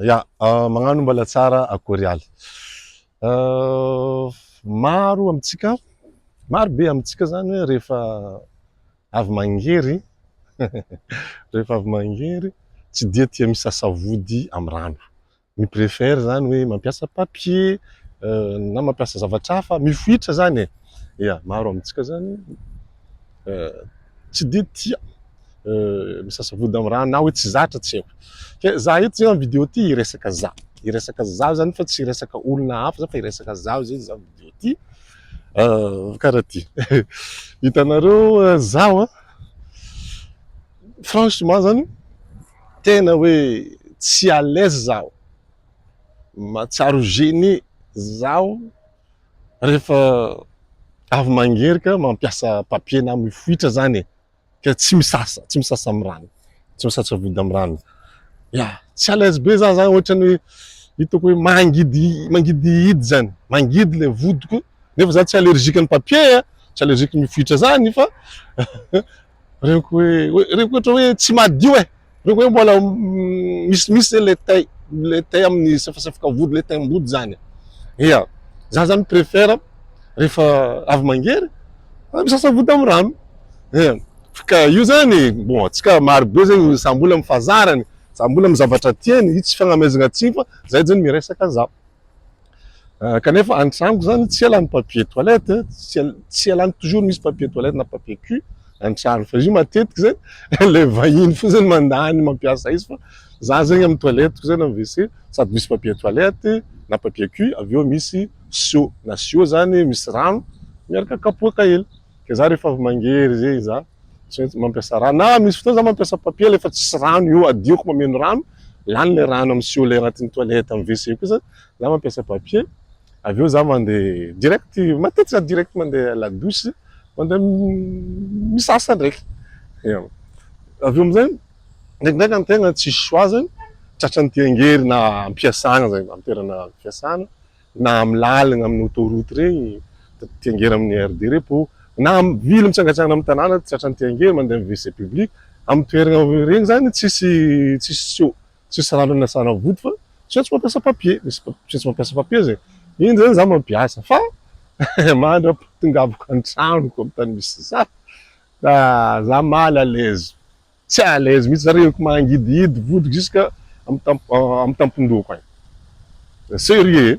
Ya, magnano mbala tsara akory aly. Maro amintsika, maro be amintsika zany hoe rehefa avy mangery, rehefa avy mangery, tsy dia tia misasa vody amin'ny rano. Mi préfère zany hoe mampiasa papier na mampiasa zavatra hafa, mifoitra zany e. Ya, maro amintsika zany. tsy dia tia misasa vody amin'ny rano na hoe tsy zatra tsy haiko. Ka za eto zay amin'ny vidéo ty hiresaka za. Hiresaka za zany fa tsy hiresaka olona hafa fa hiresaka za zay za vidéo ty. Euh, karaha ty. Hitanareo euh, zaho a. Franchement zany tena hoe tsy à l'aise zaho. Mahatsiaro gêné zaho. Rehefa avy mangerika mampiasa papier na mifoitra zany e. Ka tsy misasa, tsy misasa amin'ny rano. Tsy misasa vody amin'ny rano. Ya, tsy à l'aise be za zany ohatrany hoe hitako hoe mangidy mangidihidy zany. Mangidy le vodiko nefa za tsy allergique ny papier, tsy allergique ny mifoitra zany fa Reko hoe, reko ohatra hoe tsy madio e. Reko hoe mbola misimisy zay le tay, le tay amin'ny safasafaka vody, le taim-body zany. Ia, za zany préfère rehefa avy mangery, misasa vody amin'ny rano. Ia, ka io zany, bon, atsika maro be zany samy mbola amin'ny fahazarany, samy mbola amin'ny zavatra tiany, io tsy fagnamezagna tsiny fa zay zany miresaka za. Euh, kanefa any tranoko zany tsy ela ny papier toilette eh. tsy ela tsy ela toujours misy papier toilette na papier cul any trano fa izy io matetika zany le vahiny fo zany mandany mampiasa izy fa za zegny amin'ny toilette ko zany amin'ny WC sady misy papier toilette na papier cul avy eo misy sio na sio zany misy rano miaraka kapoaka hely ke za rehefa avy mangery zegny za tsy maintsy mampiasa rano na misy fotoana za mampiasa papier le fa tsisy rano io adioko mameno rano lany le rano amin'ny sio le agnatin'ny toilette amin'ny WC ko zany za mampiasa papier avy eo za mandeha direct matetika za direct mandeha la douche mandeha misasa ndraiky avy eo amizay ndraikindraiky ny tegna tsisy choix zany tratran'ny ty angery na ampiasana zay amin'ny toerana ampiasana na amin'ny lalagna amin'ny autoroute regny ty angery amin'ny aire de repos na amin'ny vily mitsangatsangana amin'ny tanàna tratran'ny ty angery mandeha amin'ny WC public amin'ny toerana regny zany tsisy tsisy seau tsisy rano na tsara vody fa zay tsy mampiasa papier misy zay tsy mampiasa papier zay iny zany za mampiasa fa mandra tongavako antranoko am tany misy za da za mal à l'aise tsy à l'aise mihitsy za reko mangidihidy vody jusque am tam am tampon-dohako any sérieux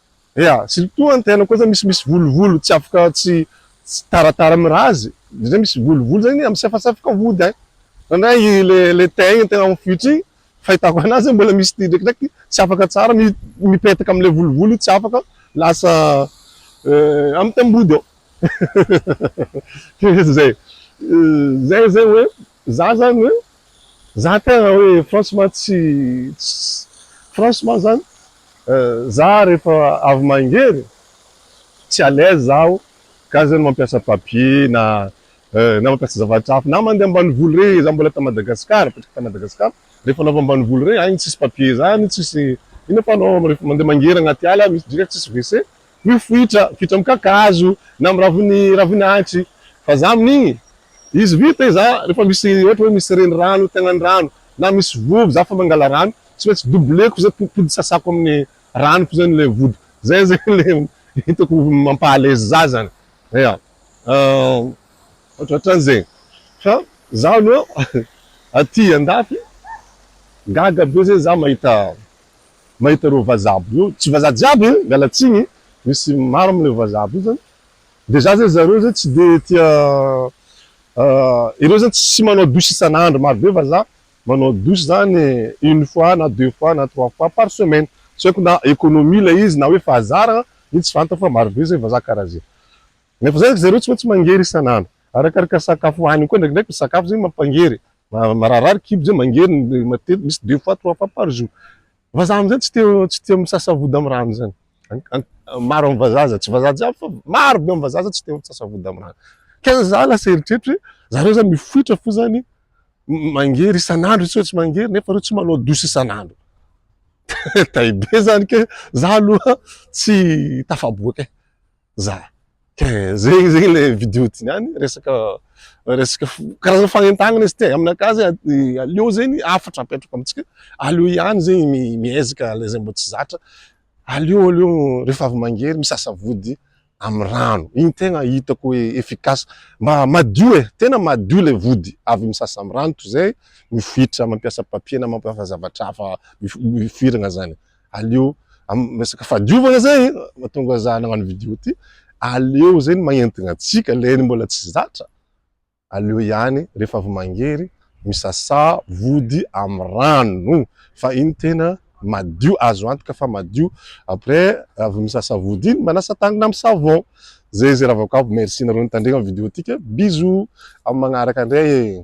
Ea, surtout ny tenako kosa misy misy volovolo tsy afaka tsy tsy taratara mirazy, indrindra hoe misy volovolo zany misafasafoka vody an! Indraindray i le le teint igny tegna mifoitra igny fahitako anazy hoe mbola misy drekidreky tsy afaka tsara mi mipetaka amle volovolo io tsy afaka lasa am tam-body ao, zay zay zay hoe. Za zany hoe, za tena hoe franchement tsy franchement zany za rehefa avy mangery tsy à l'aise zaho ka zany mampiasa papier na na mampiasa zavatra hafa na mandeha ambanivolo re za mbola ta Madagascar apetraka ta Madagascar rehefa anao avy ambanivolo re any tsisy papier zany tsisy inona fa anao rehefa mandeha mangery anaty ala misy drika tsisy WC Mifoitra vita amin'ny kakazo na amin'ny raviny ravina antsy vazaha amin'igny izy vita izy zah rehefa misy ohatra hoe misy renirano te hagnano rano na misy vovo zah fa mangala rano tsy maintsy doubleko zay podimpody sasako amin'ny rano fo zany le vody zay zany le hitako mampaha aleze zah zany ya otratran'izegny fa zaho aloha aty andafy gaga be zay zah mahita mahita ireo vazaha aby ireo, tsy vazaha jiaby e, miala tsiny e, misy maro amin'ireo vazaha aby ireo zany dia za zay zareo zay tsy dia tia ireo zany tsy manao douche isan'andro maro be vazaha manao douche zany une fois na deux fois na trois fois par semaine, tsy haiko na economie ilay izy na hoe fahazarana, iny tsy fantako fa maro be zay vazaha karaha zay, nefa zay zareo tsy maintsy mangery isan'andro. Arakaraka sakafo hohaniny koa ndraikindraiky ny sakafo zegny mampangery e! Mararirary kibo zay mangery matetiky misy deux fois trois fois par jour. Vazaha amizay tsy tia tsy tia misasa vody am rano zany maro am vazaha aza tsy vazaha jiaby fa maro be am vazaha zany tsy tia misasa vody am rano. Kay zany za lasa eritreritro hoe zareo zany mifoitra fo zany mangery isan'andro tsy hoe tsy mangery nefa reo tsy manao douche isan'andro tay be zany kay za aloha tsy tafaboaka e! Za. Tiens, zegny zegny le vidéo tiany, resaka resaka karazana fagnentagnana izy ty, aminakahy zegny aleo zegny hafatra apetrako amintsika, aleo ihany zegny miezaka le zay mbo tsy zatra, aleo aleo rehefa avy mangery misasa vody amy rano, igny tegna hitako hoe efficace, mba madio e, tena madio le vody avy misasa amy rano toy zay mifoitra mampiasa papier na mampiasa zavatra hafa mifoiragna zany, aleo amin'ny resaka fahadiovana zay e, mahatonga za nagnano vidéo ty, aleo zay ny magnentigna antsika, lay ny mbola tsy zatra, aleo ihany rehefa avy mangery misasà vody amin'ny rano fa iny tena madio, azo antoka fa madio, après avy misasà vody iny manasa tagnana amin'ny savon, zay zay rahavako aby, merci nareo nitandregna vidéo tika, bisous amin'ny magnaraka ndray e.